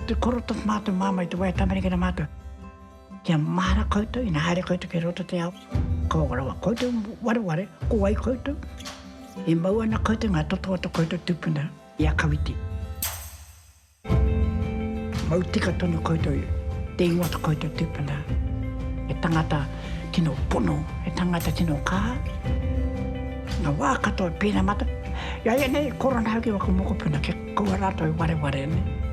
Te koro toku mātou māmā i te wai tamarikina mātou. Kia mahara koutou ina haere koutou ki roto te ao. Ko rawa koutou wareware, ko wai koutou? E mau ana koutou ngā toto o to koutou tupuna i a Kawiti. Mau tika tonu koutou i te ingoa to koutou tupuna. He tangata tino pono, he tangata tino kaha. Nga wa katoa pena mata, i a ia nei e korona au ki waku mokopuna kia kaua ratou i wareware nei.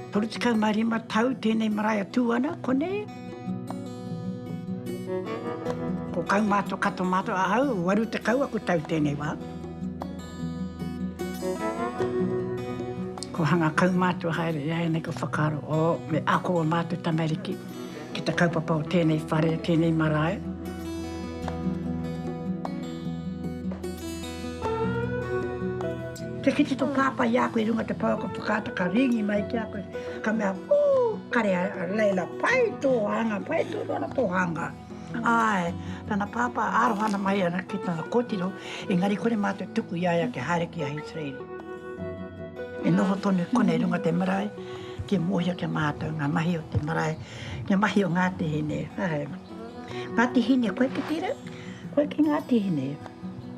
Toru tekau ma rima tau tenei marae a Tuana, konei. Ko kau matou kato matou ahau, waru tekau aku tau tenei wa. Ko hanga kau mātou haere i a ia nei ka whakaaro, o, me ako o mātou tamariki ki te kaupapa o tēnei whare, o tēnei marae. Kia kite tō pāpā i a koe i runga te pouaka whakaata ka rīngi mai ki a koe, ka mea, Ū! Kare a Leila, pai tō hanga, pai tonu ana tō hanga. Āe, tana pāpā aroha ana mai ana ki tana kōtiro, engari kore mātou tuku i a ia kia haere ki a Hīterairi. E noho tonu konei runga te marae, kia mōhio ki a mātou ngā mahi o te marae, ngā mahi o Ngāti Hine. Āe. Ngāti Hine, koe ki tērā? Koe ki Ngāti Hine?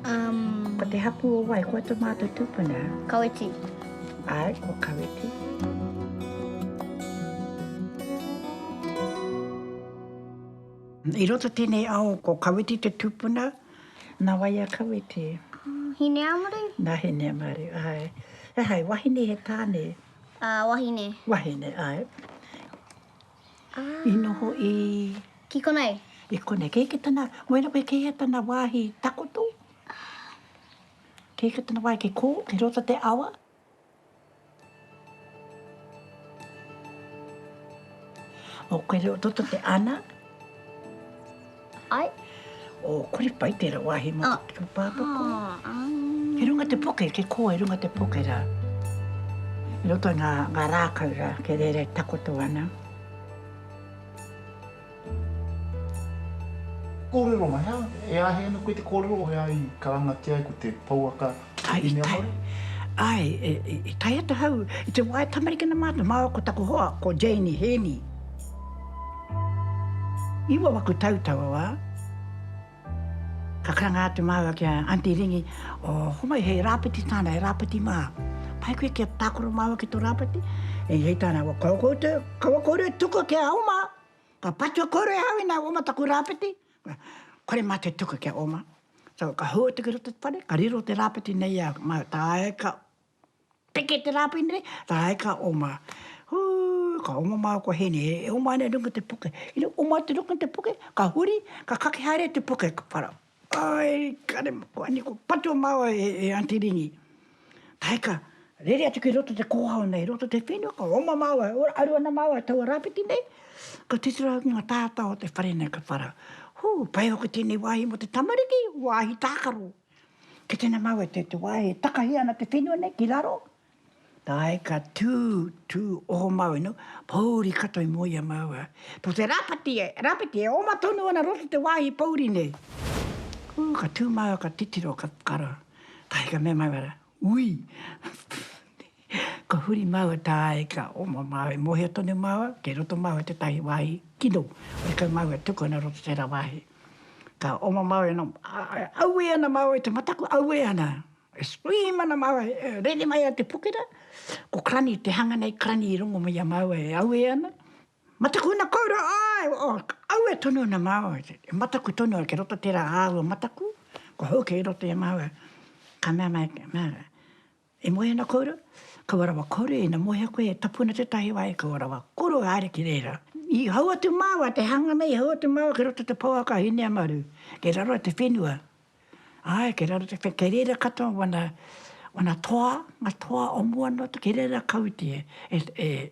Um. Ko te hapū o wai, koe tō mātou tūpuna? Kawiti. Āe, ko Kawiti. I roto tenei ao ko Kawiti te tupuna. Na wai a Kawiti? Hineamaru. Na Hineamaru, ae. Ehai, wahine he tane? A, wahine. Wahine, ae. I noho i? Ki konei. I konei. Kei ke tana, wai ra koe kei a tana wahi takoto? Kei ke tana wahi, ke ko, ke roto te awa? O Kaireototo te ana. Ai. O Koripai tera wahi mo oh. te papako. Oh, um. He runga te poke, ke koa e runga te poke ra. Roto nga, nga rākau ra, ke rere takoto ana. Kōrero mai hea? E āhei ana koe te kōrero o hea i karangatia ai ko te pouaka o Inea Māori? Ae, i tae atu hau i te wā e tamarikina mātou, māua ko taku hoa, ko Janie Heaney. Iwa waku tau taua wā. Ka karanga atu māua ki a Aunty Ringi, O, homai, he rāpiti tāna, he rāpiti mā. Pai koe kia tākaro māua ki tō rāpiti? Ī, hei tāna, Wa, kaua koutou, kaua kōrua e tuku ki a Oma, ka patua kōrua e hau i nā Oma taku rāpiti. Kore mātou e tuku ki a Oma. So, ka hou atu ki roto i te whare, ka riro te rāpiti nei i a māua. Tāe ka Peke te rāpoi nei, rāi ka oma. Hū, ka oma māua ko Hēni, e oma ana i runga te puke. Ina oma atu i runga te puke, ka huri, ka kake haere te puke, ka whara. Ai, kare, ko Annie, ko patua māua e Aunty Ringi. Rāi ka rere atu ki roto te kōhao nei, roto te whenua, ka oma māua, ora, aru ana māua i taua rāwhiti nei, ka titiro ki ngā tātā o te whare nei, ka whara. Hū, pai hoki tēnei wāhi mō te tamariki, wāhi tākaro. Kei tēnā māu e te wā e takahi ana te whenua nei ki raro. Tae ka tū, tū oho māu e nō, pōuri katoa i mua i a māu a. Tō te rāpati, rāpeti e oma tonu ana roto te wāhi pōuri nei. Ū, ka tū māu ka titiro, ka whakaro. Tae ka mea māu ara, Ui! Ka huri māua tāe ka oma māua e mōhio tonu māua kei roto māua tētahi wāhi kino hore kau māua e tuku ana roto tērā wāhi. Ka oma māua ina aue ana māua i te mataku aue ana e scream ana māua e rere mai a te pokera ko Crani te hanga nei Crani i rongo mai a māua e aue ana mataku ana koura āe aue tonu ana māua e mataku tonu ana kei roto tērā āua mataku ko hou kei roto i a māua ka mea mai māua E moe ana koura? Kaua rawa kore, ina mohea koe e tapu ana tetahi wa, e kaua rawa koro e haere ki rera. I hau atu maua te hanga nei, i hau atu maua ki roto te pouaka a Hineamaru, ke raro a te whenua. Ae, ke raro te whenua, ke rera katoa wana, wana toa, nga toa o mua no, ke rera kautia e, e.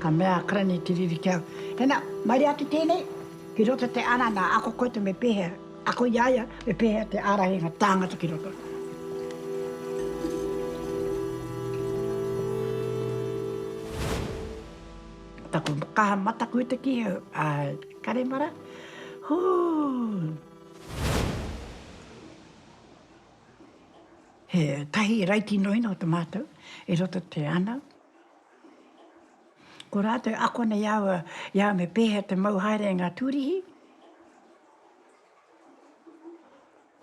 Ka mea a Karani Te Riri ki a au, Tena, maire atu tenei ki roto te ara na ako koe to me pehea ako i a ia, me pehea te arahi a nga tangata ki roto. Taku kaha mataku te ki au, a Karemara, huu! He tahi raiti noina o te matou i roto te ana. Ko rātou e ako ana i a au, i a au me pēhea te mau haere e ngā tūrihi.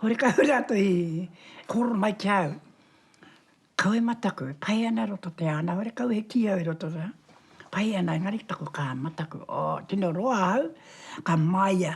Horekau au rātou i kōrero mai ki a au, kawe mataku, e pai ana i roto te ana, horekau he kī au i roto rā, pai ana engari taku kāmā, taku, oh, tino roa au, ka māia.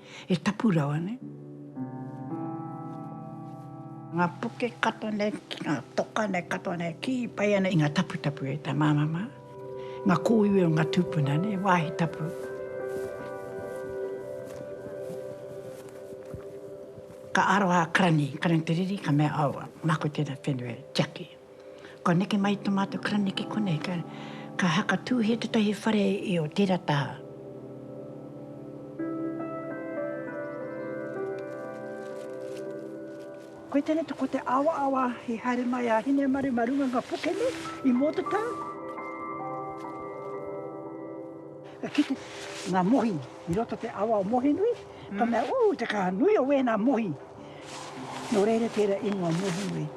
He tapu rawa nei. Nga puke katoa nei, nga toka nei katoa nei, ki pai ana i nga taputapu e ta mama ma. Nga koiwi o nga tupuna nei, wahi tapu. Ka aroha a Karani, Karani Te Riri, ka mea, Aua, mako tena whenua e tiaki. Kua neke mai to matou karaniki konei ka ka haka tuhia tetahi whare i o tera taha. Koe tene to ko te awa awa i haere mai a Hinemaru ma runga nga puke nei i Motatau. Ka kite nga mohi i roto te awa o Mohenui ka mea, Ooh te kaha nui o wena mohi. Nō reira tērā ingoa Mohonui.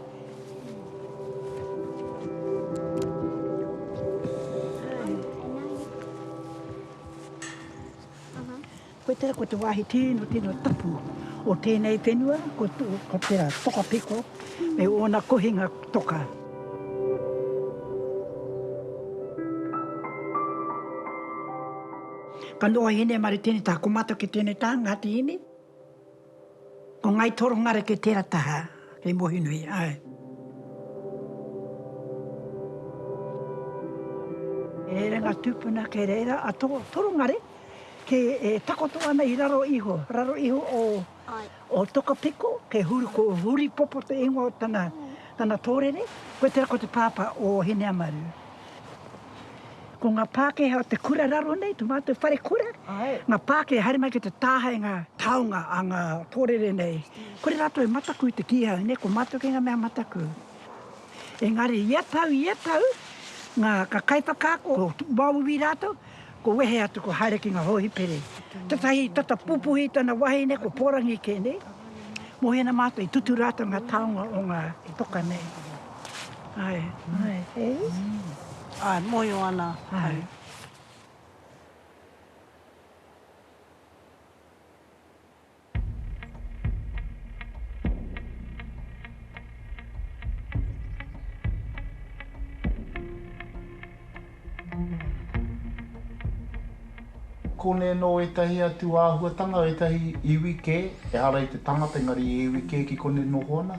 Koe tērā ko te wāhi tino tino tapu o tēnei whenua, ko, ko tērā Tokapiko, me ōna kohinga toka. Ka noa hine maritini tā, ko mātou ki tēnei tā, Ngāti Hine. Ko Ngai Torongareke tera taha kei Mohinui ae. E re nga tupuna kei reira a Torongare ke e takoto ana i raro iho, raro iho o Tokapiko ke huri ko Huripopo te ingoa o tana torere, koe tera ko te papa o Hineamaru. Ko ngā Pākehā o te kura raro nei, tō mātou whare kura, ngā Pākehā haere mai ki te tāhae ngā taonga a ngā pōrere nei, kore rātou e mataku i te kīhau nei, ko mātou kei ngā mea mataku. Engari ia tau, ia tau, ngā kaiwhakaako, o Māui rātou, Ko wehe atu ko haere ki nga hohipere. Tetahi tata pupuhi tana wahine ko Porangi ke nei. Mohina matou i tutu ratou nga taonga o nga toka nei. Ae. Ae hei. Ae mohio ana hei. Kone no etahi atu ahuatanga, etahi iwi ke, ehara i te tangata engari i iwi ke ki kone noho ana.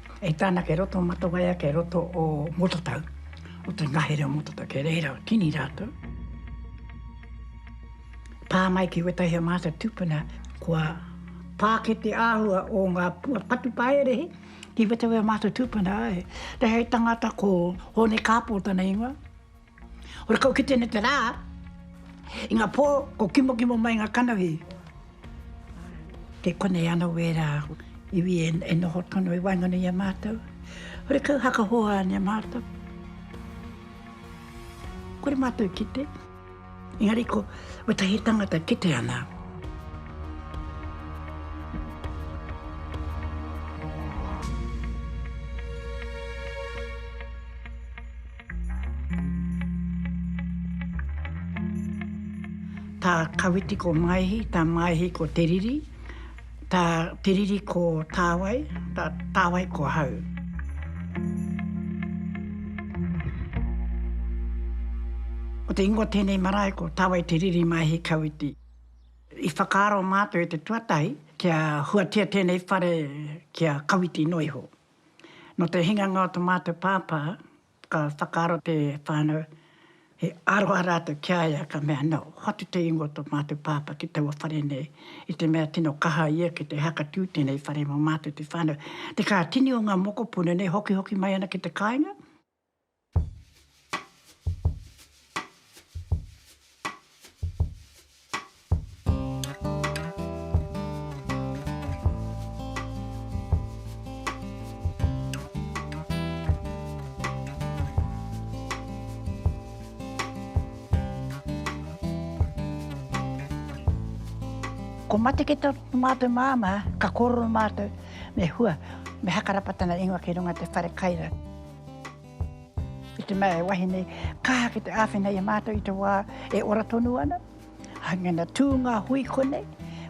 E tana kei roto o Matawaia, kei roto o Motatau, o te ngahere o Motatau, kei reira o Kini ratou. Pa mai ki wetahi o nga tupuna, kua paake te ahua o nga patu paerehe ki wetahi o nga tupuna, he tangata ko Hone Kapo tana ingoa. Hore kau ki tēnei te rā, i ngā pō ko kimokimo mai ngā kanohi. Kei konei ana wērā iwi e, e noho tonu i waenganui i a mātou. Hore kau hakahoa ane a mātou. Kore mātou kite. Engari ko, ko tahi tangata kite ana. Tā Kawiti ko Maehi, tā Maehi ko Te Riri, tā Te Riri ko Tāwai, tā Tāwai ko Hau. Ko te ingoa tēnei marae ko Tāwai Te Riri Maehi Kawiti. I whakaaro mātou e te tuatahi kia huatia tēnei whare ki a Kawiti noa iho. Nō te hinganga o tō mātou pāpā, ka whakaaro te whānau, he aroha rātou ki a ia, ka mea, nō, hoatu te ingoa o tō mātou pāpā ki taua whare nei, i te mea tino kaha ia ki te hakatū tēnei whare mō mātou te whānau. Te kā tini o ngā mokopuna nei, hokihoki mai ana ki te kāinga. Ko Mateke to matou mama ka korero matou me hua me hakarapatana ingoa ki runga te whare kai ra. I te mea he wahine kaha ki te āwhina i a mātou i te wā e ora tonu ana, hange na tū ngā hui konei,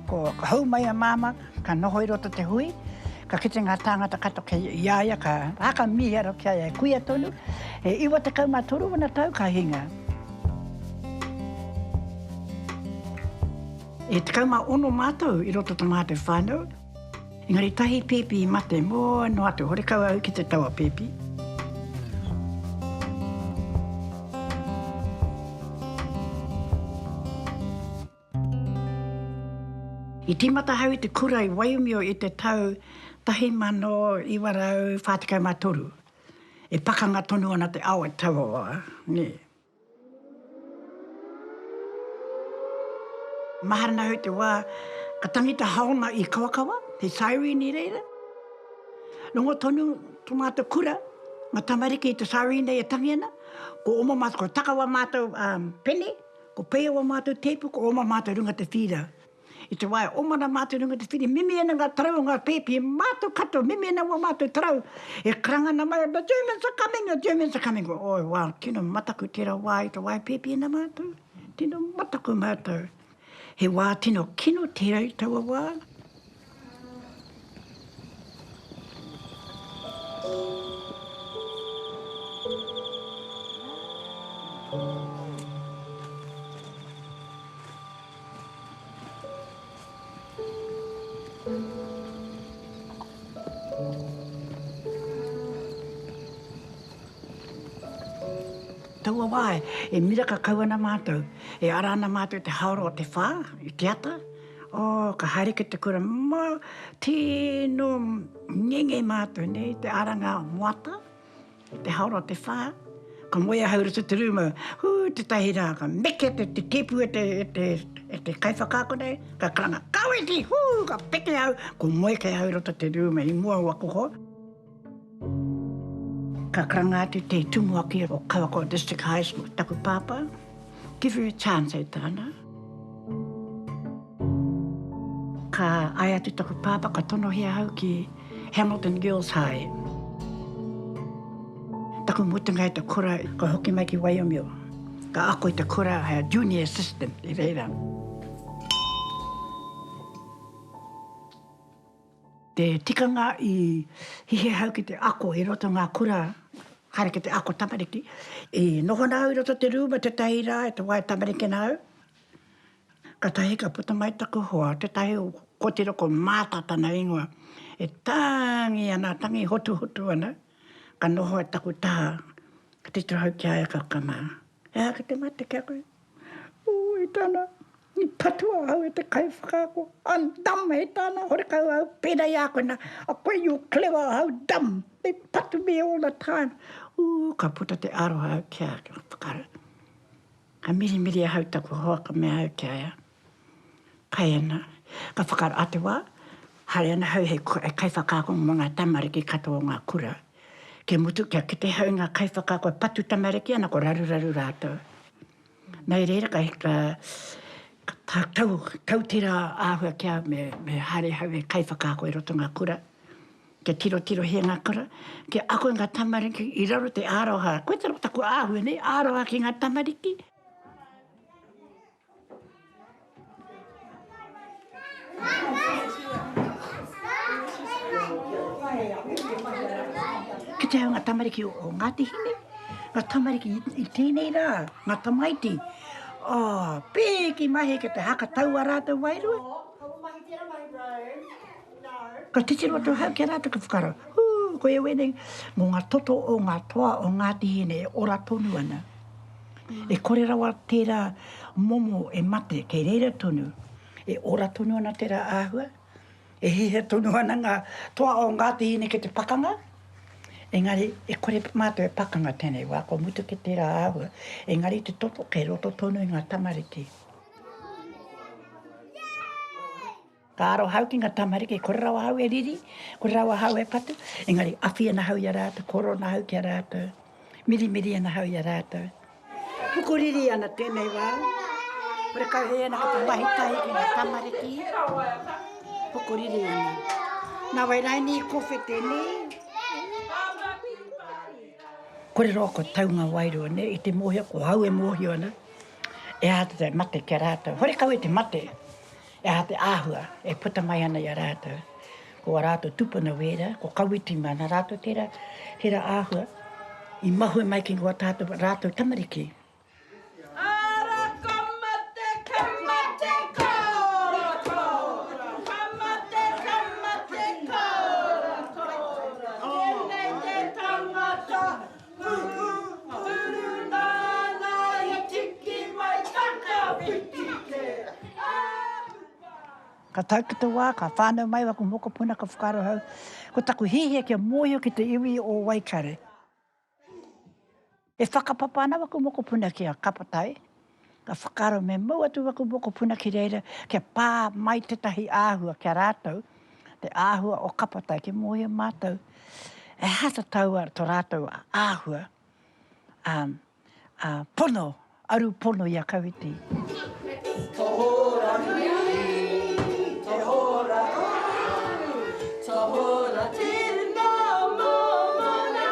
ko ka hou mai a māmā ka noho i roto te hui, ka kite ngā tāngata katoa kei i a ia ka haka miharo ki a ia e kuia tonu, e iwa tekau ma toru ana tau ka hinga. E tekau ma ono mātou i roto o to mātou whānau. Engari tahi pipi i mate, mo noa atu, horekau au ki te taua pipi. I timata ahau i te kura i Waiumio i te tau 1943. E pakanga tonu ana te ao e tauawa, ne. Mahana au te wā ka tangi te haona i Kawakawa, he siren i reira. Rongo tonu to mātou kura, ngā tamariki i te siren nei e tangi ana, ko oma mātou, ko Takawa mātou pene, ko Peia wā mātou tēpu, ko oma mātou runga te whīra. I te wā e oma ana mātou i runga i te whiri, mimi ana ngā tarau o ngā pēpi, e mātou katoa, mimi ana wā mātou tarau, e karanga ana mai, the Germans are coming, the Germans are coming, oi wā, tino mataku tērā wā i te wā e pēpi ana mātou, tino mataku mātou. He wā tino kino tērā i taua wā. Taua wā e miraka kau ana mātou, e ara ana mātou i te haora o te whā, i te ata, Oh, ka haere ki te kura, ma, tino ngenge matou nei, te aranga o moata, te haora o te wha, ka moe ahau i roto i te ruma, hu, tetahi ra, ka meke te tipu e te kaiwhakaako nei, ka karanga, Kawiti! Hu, ka peke ahau, ko moe kei ahau i roto i te ruma i mua o waku hoa. Ka karanga atu te tumuaki o Kawakoa District High School, taku pāpā, give her a chance e tāna. Ka ai atu taku pāpā ka tonohia au ki Hamilton Girls High. Taku mutunga i te kura, ka hoki mai ki Waiomio, ka ako i te kura hei junior assistant i reira. Te tikanga i hihia hau ki te ako i roto ngā kura haere ki te ako tamariki. I noho ana au i roto te rūma tētahi rā i te wā e tamariki ana au, katahi ka puta mai taku hoa, tētahi o kōtiro ko Maata tana ingoa, e tangi ana, tangi hotuhotu ana, ka noho ai taku taha, ka titiro hau ki a ia ka ka mā, he aha ki te mate ki a koe? Ū, i tana, i patua au e te kaiwhakaako, I'm dumb, he tāna, horekau ahau, pērā i a koe nā, a koe you're clever, ahau dumb, they patu me all the time. Ū, ka puta te aroha au ki a, ka whakaaro, ka mirimiri ahau taku hoa ka mea au ki a ia, Kai ana, ka whakaro, a te wa, haere ana hau hei kaiwhakaako mo nga tamariki katoa o nga kura. Kia mutu, kia kite hau i nga kaiwhakaako e patu tamariki ana, ko raruraru ratou. Nei reira ka tau, tau tera ahua ki au me haere hau hei kaiwhakaako i roto i nga kura, kia tirotirohia nga kura, kia ako i nga tamariki i raro i te aroha. Koe tera taku ahua nei, aroha ki nga tamariki. Ki te hau ngā tamariki o Ngāti Hine, ngā tamariki i tēnei rā, ngā tamaiti, oh, pēki mahi ki te haka tau a rātou wairua. Ka titiro atu hau ki a rātou ka whakaro, hū, koe wēnei, mō ngā toto o ngā toa o Ngāti Hine e ora tonu ana. E kore rawa tērā momo e mate kei reira tonu, e ora tonu ana tērā āhua, e hiahia tonu ana ngā toa o Ngāti Hine ki te pakanga, engari e kore mātou e pakanga tēnei wā, kua mutu kē tērā āhua, engari te toto kei roto tonu i ngā tamariki. Ka aro ahau ki nga tamariki, kore rawa ahau e riri, kore rawa ahau e patu, engari awhi ana ahau i a ratou, koro ana ahau ki a ratou, mirimiri ana ahau i a ratou. Pukuriri ana tenei wa, kore kau hei ana ko te mahi tahi ki nga tamariki, pukuriri ana. Na wai raini i kowhi tenei, kore rawa kua tau nga wairua nei i te mohio, ko ahau e mohio ana, e aha te mate ki a ratou, hore kau e te mate, He aha te āhua e puta mai ana i a rātou? Ko ā rātou tūpuna wērā, ko Kawiti māna rātou tērā, tērā āhua i mahue mai ki ngā tātou rātou tamariki. Ara ka mate, ka mate kōrokōro, ka mate, ka mate kōrokōro, tēnei te tangata. Ka tau ki te wā, ka whānau mai aku mokopuna, ka whakaaro au, ko taku hiahia kia mōhio ki te iwi o Waikare. E whakapapa ana aku mokopuna ki a Kapatai. Ka whakaaro me mau atu aku mokopuna ki reira kia pā mai tētahi āhua ki a rātou, te āhua o Kapatai ki mōhio mātou e hata taua to rātou āhua a, a pono, aru pono i a Kawiti. Tohora nui, tohora hou, tohora tēnā mōmona.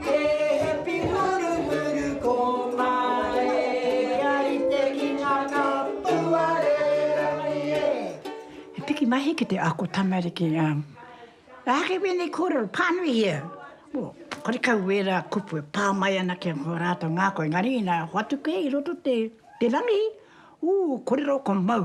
He hepi huruhuru ko Mareia i te kinga ka puarerangi e. He piki mahi ki te ako tamariki a. How can we make kōrero pānui here? Well, karekau wērā kupu e pā mai ana ki ō rātou ngākau, engari inā hoatu kē i roto te rangi, ū, kōrero ko Mau.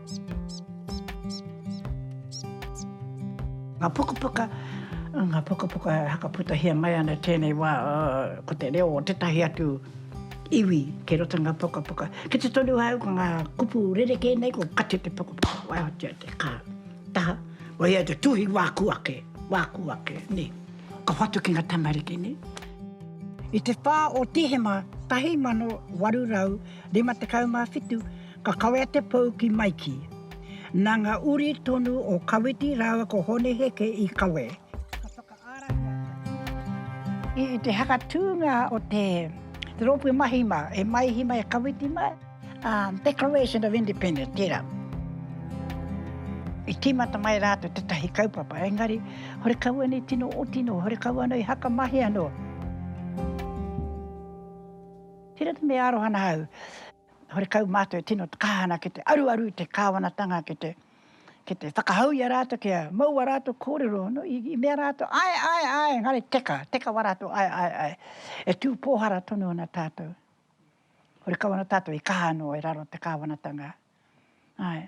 Ngā pukapuka, ngā pukapuka e whakaputahia mai ana i tēnei wā, ko te reo o tētahi atu iwi kei roto i ngā pukapuka. Ki te tonu āu ko ngā kupu rerekē nei, ko kati te pukapuka, waihotia te kāo, taha, koia te tuhi wāku ake, wāku ake, nē. Ka whatu ki ngā tamariki, nē. I te whā o Tihema 1857, Ka kawea te pou ki Maiki. Nā ngā uri tonu o Kawiti rāua ko Hone Heke i kawe. Ka whakaarahia Kawiti. I te hakatūnga o te rōpū mahi mā, e Maihi mā, e Kawiti mā, ā, Declaration of Independence, tērā. I tīmata mai rātou tētahi kaupapa, engari, horekau anō i tino oti nō, horekau anō i hakamahi anō. Tērā te mea aroha ana au. Horekau mātou e tino kaha ana ki te aruaru i te kāwanatanga ki te ki te whakahau i a rātou kia mau a rātou kōrero i mea rātou ae ae ae engari teka, teka wa rātou ae ae ae e tū pōhara tonu ana tātou. Horekau ana tātou i kaha anō e raro te kāwanatanga. Ae.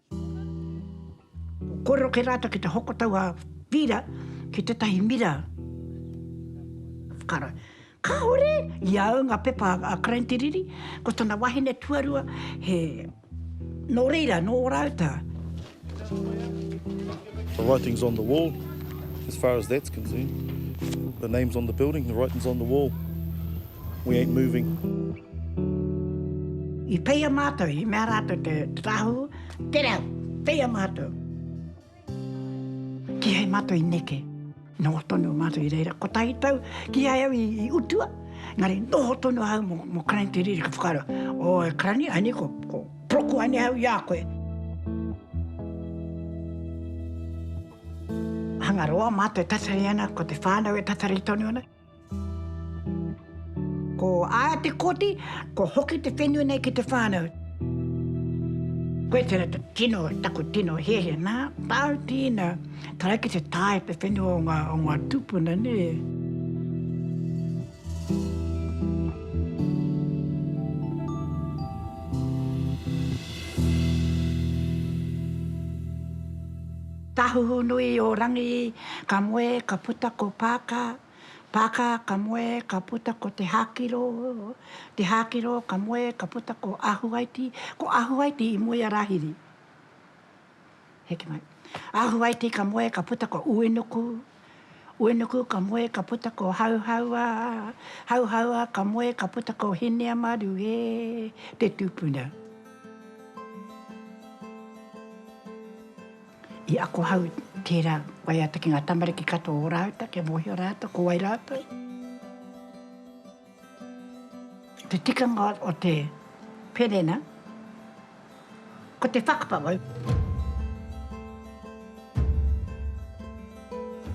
Kōrero kē rātou ki te hoko tau a Pīra ki tētahi mira whakaaro. Kāore i a au ngā pepa a Crane Te Riri, ko tana wahine tuarua he nō reira, nō ō rātou. The writing's on the wall, as far as that's concerned. The name's on the building, the writing's on the wall. We ain't moving. I peia mātou, i mea rātou te tāhū, te rau, peia mātou. Kīhai mātou i neke, noho tonu mātou i reira, kotahi tau, kīhai au i utua, engari noho tonu ahau mō, mō Karani te riri ka whakaaro, o e Karani, ai nei ko, ko proku ai nei ahau i a koe. Hangaroa mātou e tatari ana, ko te whānau e tatari tonu ana. Ko aia te koti, kua hoki te whenua nei ki te whānau. Koe tera te tino, taku tino hehe, na, tau tina, tara ki te tae te whenua o nga, o nga tupuna ne. Tahuhu nui o Rangi. Ka moe, ka puta ko Pākā, Pākā, ka moe, ka puta ko Te Hākiro, Te Hākiro, ka moe, ka puta ko Ahuaiti, ko Ahuaiti i moe a Rāhiri. Heke mai. Ahuaiti ka moe, ka puta ko Uenuku, Uenuku, ka moe, ka puta ko Hauhaua, Hauhaua, ka moe, ka puta ko Hineamaru e te tupuna. I ako hau tērā waiata ki ngā tamariki katoa o Rāuta kia mōhio rātou ko wai rātou. Te tikanga o te wherena, ko te whakapapa.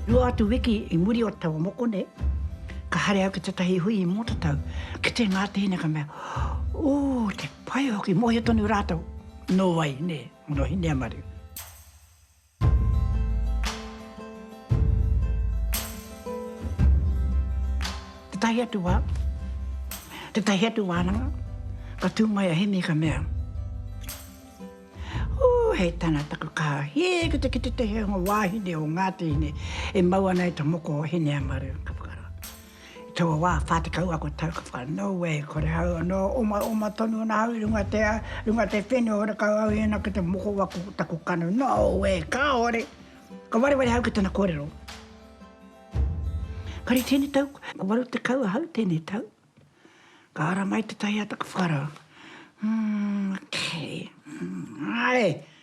Rua atu wiki i muri o te taua mokone, ka haere au ki tētahi hui i Mōtatau, kite ngā tēina ka mea, Ō, te pai hoki, mōhio tonu rātou, nō wai, nē. Morohineamaru. Tētahi atu wā, tētahi atu wānanga, ka tū mai a Hemi ka mea, Ū, hei tana taku kaha, hē ki te kite te heonga wāhine o Ngāti Hine e mau ana i te moko o Hineamaru, ka whakaaro. I taua wā, whā tekau ako tau ka whai, nō wai, kore au anō, omaoma tonu ana au i runga te ao, i runga te whenua, horekau au i ana ki te moko waku o taku kanu, nō wai, kāore! Ka wareware au ki tana kōrero. Kare tēnei tau, ko waru tekau ahau tēnei tau, ka ara mai te taiāta ka whakarawa, Umm, okay, umm, āe!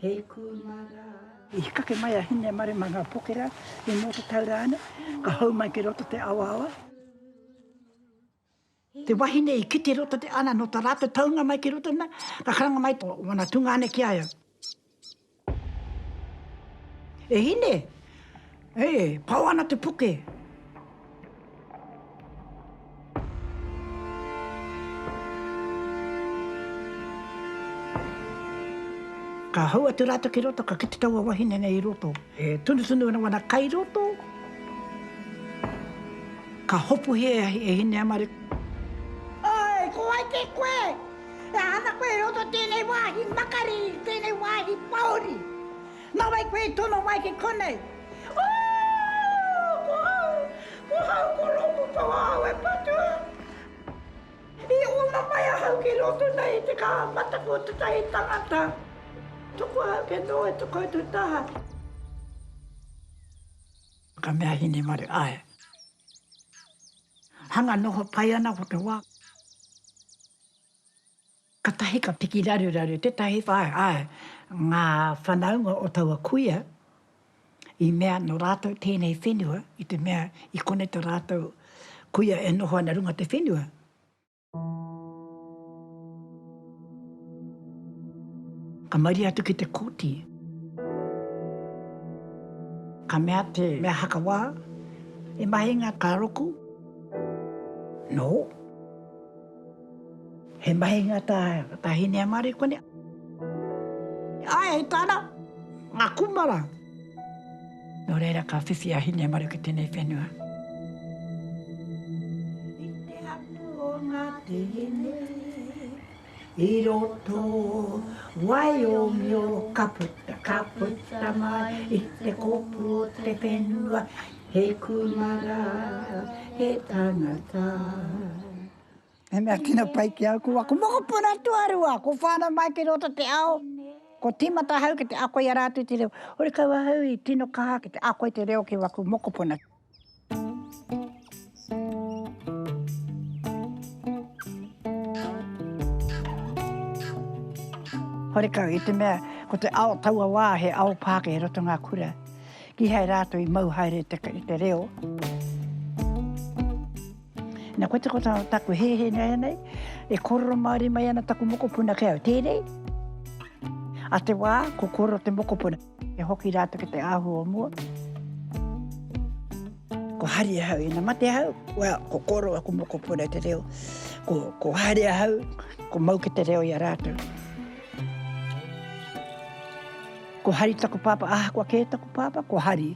he kumara. I hikake mai a Hinemare ma nga pokera i mo te tau rane, ka hou mai ki roto te awaawa. Te wahine i kite roto te ana no ta ratou taunga mai ki roto na, ka karanga mai to wana tungane ki a eu. E Hine, E pao ana te puke! Ka hou atu rātou ki roto, ka kite taua wahine nei i roto. E tunutunu ana wana kai roto. Ka hopuhi e Hineamare. Oi, ko wai kē koe? E ana koe i roto i tēnei wāhi makari, i tēnei wāhi pāori? Nā wai koe i tono mai ki konei? Ooh! Ko au! Ko au ko Rongupao au e patua! I ona mai ahau ki roto nei i te kaha mataku o tetahi tangata, toko ahau kia noho i to koutou taha. Ka mea Hinemaru, Ae. Hanga noho pai ana ko te wa. Katahi ka piki raruraru tetahi whānau, ngā whanaunga o taua kuia, i mea no rātou tēnei whenua, i te mea i konei to rātou kuia e noho ana runga te whenua. Ka mauri atu ki te koti. Ka mea te mea hakawā, E mahinga ka roku? No. He mahinga tā tā Hineamarikone. Ae e tana nga kumara. No reira ka whiwhi a Hineamariko i tenei whenua. I te hapu o nga tihine i roto wai o mio. Ka puta ka puta mai i te kopu o te whenua. He kumara, he tangata. He mea tino pai ki au, ko aku mokopuna tuarua, ko whānau mai ki roto te ao, ko tīmata ahau ki te ako i a rātou te reo. Horekau ahau i tino kaha ki te ako i te reo ki waku mokopuna. Horekau, i te mea ko te ao taua wā he ao Pākehā i roto i ngā kura, kīhai rātou i mau haere i te reo. Nā, kote ko taku hehe nāianei, e kōrero Māori mai ana taku mokopuna kē au, tērei, a te wā, ko kōrero te mokopuna. E hoki rātou ki te ahu o mua. Ko hari ahau, ina mate ahau, well, ko koro aku mokopuna te reo. Ko, ko hari ahau, ko mau ki te reo i a rātou. Ko hari taku pāpā, ah, kua kē taku pāpā, ko hari.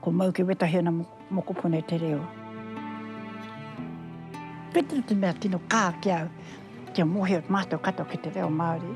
Ko mau ki wetahi ana mokopuna te reo. Petero te mea tino kā ki au, kia mohio mātou katoa ki te reo Māori.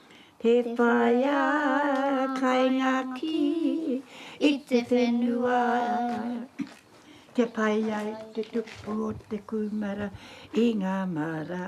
He whaea kai ngā kī i te whenua Kia pai ai te tupu o te kūmara i ngā mara.